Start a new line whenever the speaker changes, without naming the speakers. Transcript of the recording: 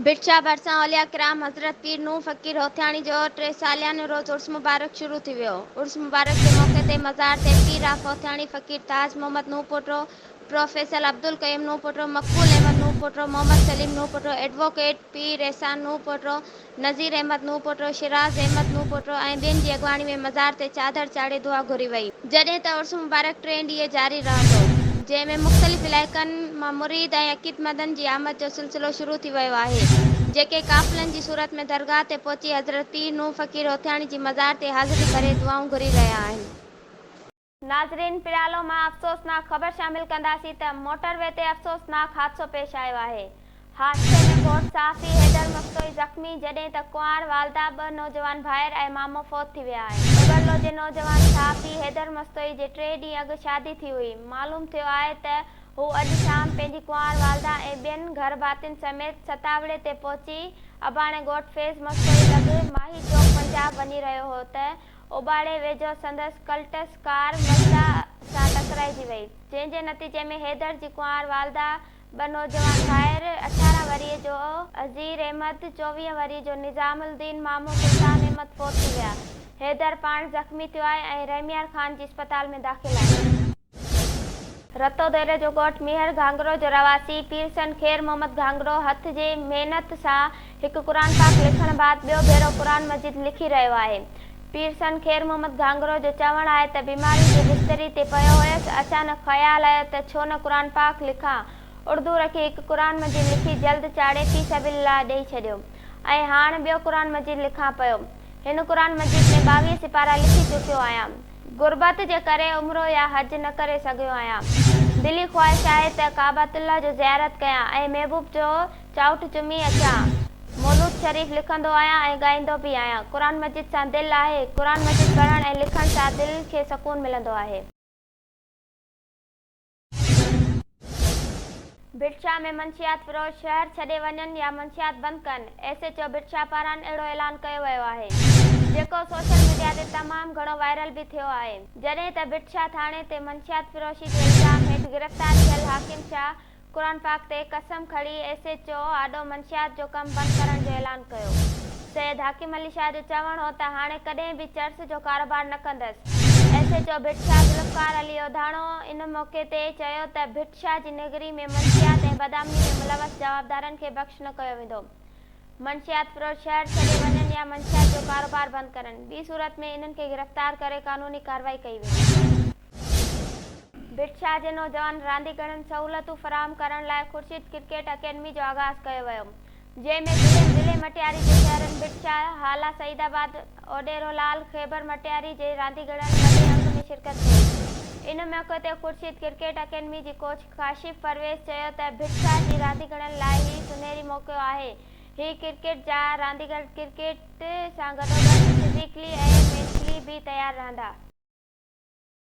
برڇا ڀرسان اولياء ڪرام حضرت پير نوح فقير هوٿياڻي جو ٽي ساليانو روز عرس مبارڪ شروع ٿي ويو عرس مبارڪ جي موقعي تي مزار تي پير of Hothiani Faqir Taj Muhammad Nuh Poto professor Abdul Qayyum Nuh Poto Maqbool Ahmed Nooh Poto Muhammad Saleem Nooh Poto advocate Pir Ehsan Nooh Poto Nazir Ahmed Nooh Poto Shiraz Ahmed Nooh Poto ۽ ٻين جي اڳواڻي ۾ مزار تي چادر چاڙهي دعا گهري وئي. جڏهن ته عرس مبارڪ ٽئين ڏينهن جاري رهندو، جنهن ۾ مختلف علائقن مان مريد ۽ عقيدمندن جي آمد جو سلسلو شروع ٿي ويو آهي، جيڪي قافلن جي صورت ۾ درگاهه تي پهچي حضرت پير نوح فقير هوٿياڻي جي مزار تي حاضري ڀري دعائون گهري رهيا آهن. ناظرين پريالو مان افسوسناڪ خبر شامل ڪنداسين ته موٽر وي تي افسوسناڪ حادثو پيش آيو آهي. حادثي ۾ فوت صحافي حيدر مستوئي زخمي، جڏهن ته ڪنوار والده، ٻه نوجوان ڀائر ۽ مامو فوت ٿي ويا آهن. ببرلو جي نوجوان صحافي حيدر مستوئي جي ٽي ڏينهن اڳ شادي ٿي هئي، معلوم ٿيو آهي ته هو اڄ شام پنهنجي ڪنوار والده ۽ ٻين گهر ڀاتين سميت ستاوڙي تي پهچي اباڻي ڳوٺ فيض مستوئي لڳ ماهي چوڪ پنجاب وڃي رهيو هو ته اوٻاڙي ويجهو سندس ڪلٽس ڪار مزدا سان ٽڪرائجي وئي جنهن جي نتيجي ۾ حيدر جي ڪنوار والده ٻه نوجوان ڀائر، اٺارهن ورهيه جو عزير احمد، چوويهه ورهيه جو نظام الدين مامو سلطان احمد فوت ٿي ويا. حيدر پاڻ زخمي ٿيو آهي ۽ رحميار خان جي اسپتال ۾ داخل آهي. رتو ديري جو ڳوٺ ميهڙ گهانگرو جو رهواسي پيرسن خير محمد گهانگرو هٿ جي محنت سان هڪ قرآن پاڪ لکڻ بعد ٻيو ڀيرو قرآن مجيد لکي رهيو آهي. پير سن خير محمد گهانگرو جو چوڻ آهي ته بيماري جي بستري تي پيو هيس، اچانڪ خيال آيو ته ڇو نه قرآن پاڪ لکان، اڙدو رکي هڪ قرآن مجيد لکي جلد چاڙهي في سبيل الله ڏئي ڇڏيو ۽ هاڻ ٻيو قرآن مجيد لکان پيو. هن قرآن مجيد ۾ ٻاويهه سپارا لکي چڪيو آهيان. غربت جي ڪري عمرو يا حج نه ڪري سگهيو آهيان. دلي خواهش آهي ته ڪعبة الله جو زيارت ڪيان ۽ محبوب جو چاؤٺ چمي اچان. مولود شريف لکندو آهيان ۽ ڳائيندو به آهيان. قرآن مجيد سان دل آهي. قرآن مجيد پڙهڻ ۽ لکڻ سان دل کي سڪون ملندو آهي. ڀٽشاهه ۾ منشيات فروش شهر ڇڏي وڃن يا منشيات بند ڪن، ايس ايڇ او ڀٽشاهه پاران اهڙو اعلان ڪيو ويو آهي، جيڪو سوشل ميڊيا تي تمام گهڻو وائرل به ٿيو آهي، جڏهن ته ڀٽشاهه ٿاڻي تي منشيات فروشي جي الزام هيٺ گرفتار ٿيل حاڪم شاهه قرآن پاڪ تي قسم کڻي ايس ايڇ او آڏو منشيات جو ڪم بند ڪرڻ جو اعلان ڪيو. سيد حاڪم علي شاهه جو چوڻ هو ته هاڻي ڪڏهن به چرس جو ڪاروبار نه ڪندس. S H O Bhit Shah Zulfiqar Ali Odhano ان موقعي تي چيو ته ڀٽ شاهه جي نگري ۾ منشيات ۽ بدامني ۾ ملوث جوابدارن کي بخش نه ڪيو ويندو. منشيات فروش شهر ڇڏي وڃن يا منشيات جو ڪاروبار بند ڪرن ٻي صورت ۾ انهن کي گرفتار ڪري قانوني ڪارروائي ڪئي ويندي. ڀٽ شاهه جي نوجوان رانديگرن سهولتون فراهم ڪرڻ لاء خورشيد ڪرڪيٽ اڪيڊمي جو آغاز ڪيو ويو جنهن ۾ ضلعي ضلعي مٽياري جي شهرن ڀٽ شاهه هالا سعيد آباد اوڏيرو لعل خيبر مٽياري جي رانديگرن وڏي انگ ۾ شرڪت ڪئي ان موقعي تي خورشيد ڪرڪيٽ اڪيڊمي جي ڪوچ ڪاشف پرويز چيو ته ڀٽ شاهه جي رانديگرن لاء هي سونهري موقعو آهي هي ڪرڪيٽ جا رانديگر ڪرڪيٽ سان گڏوگڏ فزيڪلي ۽ مينٽلي به تيار رهندا.